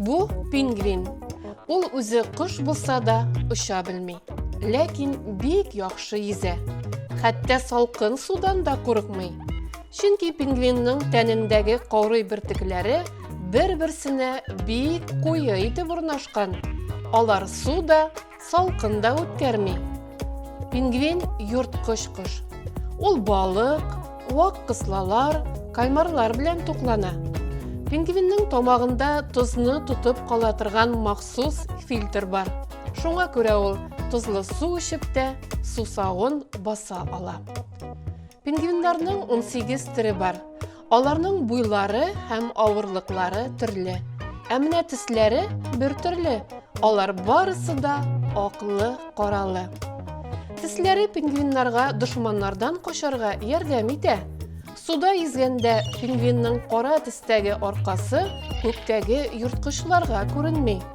Бу пингвин. Ул үзе кош булса да, оча белми. Ләкин бик яхшы йөзә. Хәтта салкын судан да курыкмый. Чөнки пингвинның тәнендәге корый бөртекләре бер-берсенә бик куе итеп урнашкан. Алар су да, салкын да үткәрми. Пингвин йорткыч кош. Ул балык, вак кыслалар, каймарлар белән туклана. Пингвинның тамагында тозны тотып кала торган махсус фильтр бар. Шуңа күрә ул тозлы су эчеп тә сусавын баса ала. Пингвиннарның 18 төре бар. Аларның буйлары һәм авырлыклары төрле. Ә менә төсләре бер төрле. Алар барысы да аклы, каралы. Төсләре пингвиннарга дошманнардан качарга ярдәм итә. Суда йөзгәндә пингвинның кара төстәге аркасы күктәге йорткычларга күренми.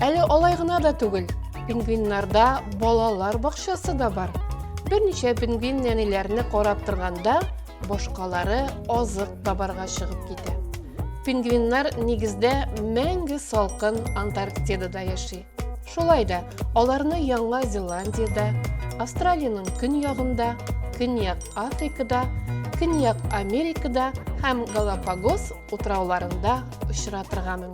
Әле алай гына да түгел, пингвиннарда балалар бакчасы да бар. Берничә пингвин нәниләрне карап торганда, башкалары азык табарга чыгып китә. Пингвиннар нигездә мәңге салкын Антарктидада яши. Шулай да аларны Яңа Зеландиядә, Австралиянең көньягында, Көньяк Африкада, Көньяк Америкада һәм Галапагос утрауларында очратырга мөмкин.